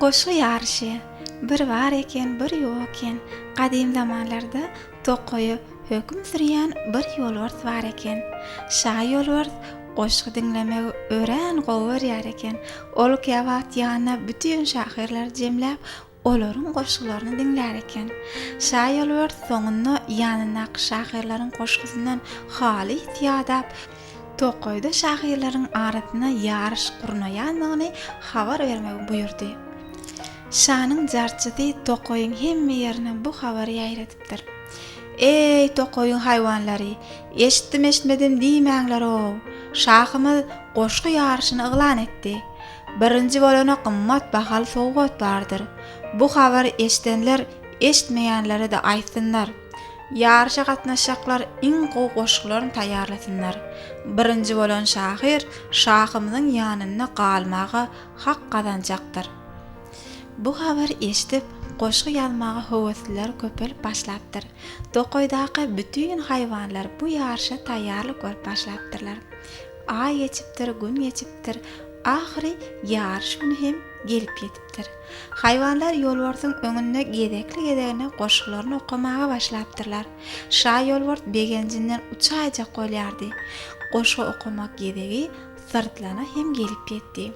Goşgy ýaryşy, Bir bar eken, bir ýok eken, Gadym zamanlarda tokaýa höküm sürýän bir ýolbars bar eken. Şa ýolbars goşgy diňlemegi örän gowy görýär eken. Ol käwagt ýanyna bütin şahyrlary jemläp, Olaryň goşgularyny diňlär eken. Şa Ýolbert soňunda ýanyndaky şahyrlaryň goşgusyndan halys ýadap, tokaýda şahyrlaryň arasynda ýaryş gurnaýandygyny habar bermegi buýurdy. Şanyň jarçysy tokaýyň hemme ýerine bu habary ýaýradypdyr. Eý, tokaýyň haýwanlary, eşitdim-eşitmedim diýmäňler-ow! Şahymyz goşgy ýaryşyny yglan etdi. Birinji bolana gymmat bahaly sowgat bardyr. Bu habary eşdenler eştmeýänlere-de aýtsynlar. Ýaryşa gatnaşjaklar iň gowy goşgularyny taýýarlasynlar. Birinji bolan şahyr şahymyzyň ýanynda galmaga hak gazanjakdyr. Bu habary eşdip, goşgy ýazmaga höwesliler köpelip başlapdyr. Tokaýdaky bütin haýwanlar bu ýaryşa taýýarlyk görüp başlapdyrlar. Aý geçipdir, gün geçipdir. Ahyry ýaryş güni hem gelip ýetipdir. Haýwanlar ýolbarsyň öňünde gezekli-gezegine goşgularyny okamaga başlapdyrlar. Şa ýolbars begenjinden uçaýjak bolýardy. Goşgy okamak gezegi Syrtlana hem gelip ýetdi.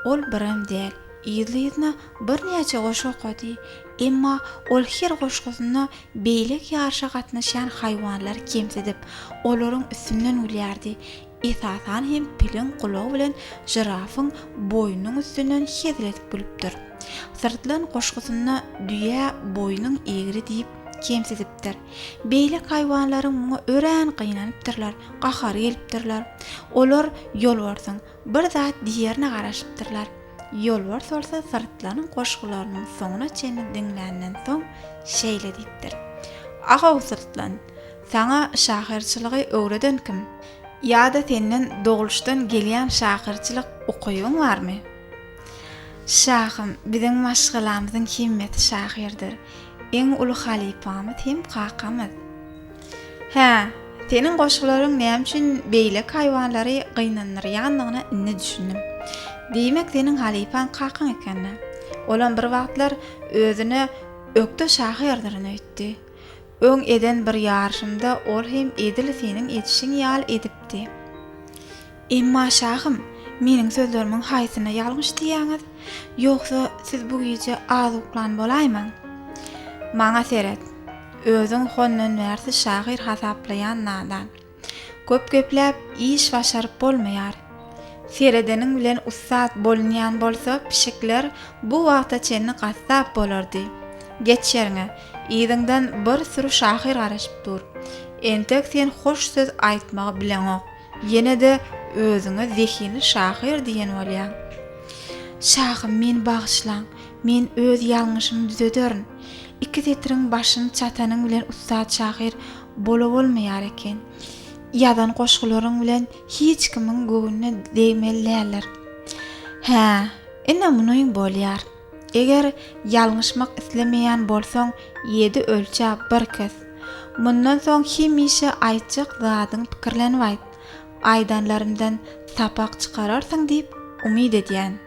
Ol birem däl, yzly-yzyna birnäçe goşgy okady. Emma ol her goşgusynda beýlek ýaryşa gatnaşýan haýwanlary kemsidip, olaryň üstünden gülýärdi. Esasan hem piliň gulagy bilen žirafyň boýnunyň üstünden hezil edip gülüpdir. Syrtlan goşgusynda düýä boýnuň egri diýip kemsidipdir. Beýlek haýwanlaryň muňa örän gynanypdyrlar, gahary gelipdirler. Olar ýolbarsyň Bir zat diýerine garaşypdyrlar. Ýolbars bolsa syrtlanyň goşgularynyň soňuna çenli diňländen soň, şeýle diýipdir, Agaw syrtlan, saňa şahyrçylygy öwreden kim? Ýa-da senden dogluşdan gelýän şahyrçylyk ukybyň barmy? Şahym, biziň maşgalamyzyň hemmesi şahyrdyr. Iň uly halypamyz hem kakamyz. Hä, seniň goşgularyň näme üçin beýleki haýwanlary gynandyrýandygyna indi düşündim. Diýmek, seniň halypaň kakaň ekeni. Olam bir wagtlar özüne ökde şahyrdyrin öýtdi. Öň eden bir ýaryşymda ol hem edil seniň edişiň ýaly edipdi. Emma şahym, meniň sözlerimiň haýsyna ýalňyş diýýäňiz? Ýogsa, siz bu gije az uklan bolaýmaň. Maňa seret. Özüň hondan bärsiz şahyr hasaplaýan nadan. Köp gepläp, iş başaryp bolmaýar. Seredeniň bilen ussat bolunýan bolsa, pişikler bu wagta çenli gassap bolardy. Geç ýeriňe. Yzyňdan bir süri şahyr garaşyp dur. Entek sen hoş söz aýtmagy bileňok. Ýene-de özüňe zehinli şahyr diýen bolýaň. Şahym, meni bagyşlaň. Men öz ýalňyşymy düzederin. Iki setiriň başyny çatanyň bilen ussat şahyr bolabolmaýar eken. Ýazan goşgularyň bilen hiç kimiň göwnüne degmeli däldir. Hä, ine muny bolýar. Eger ýalňyşmak islemeýän bolsaň, ýedi ölçä, bir kes. Mundan soň hemişe aýtjak zadyňy pikirlenip aýt. Aýdanlarymdan sapak çykararsyň diýip umyt edýän.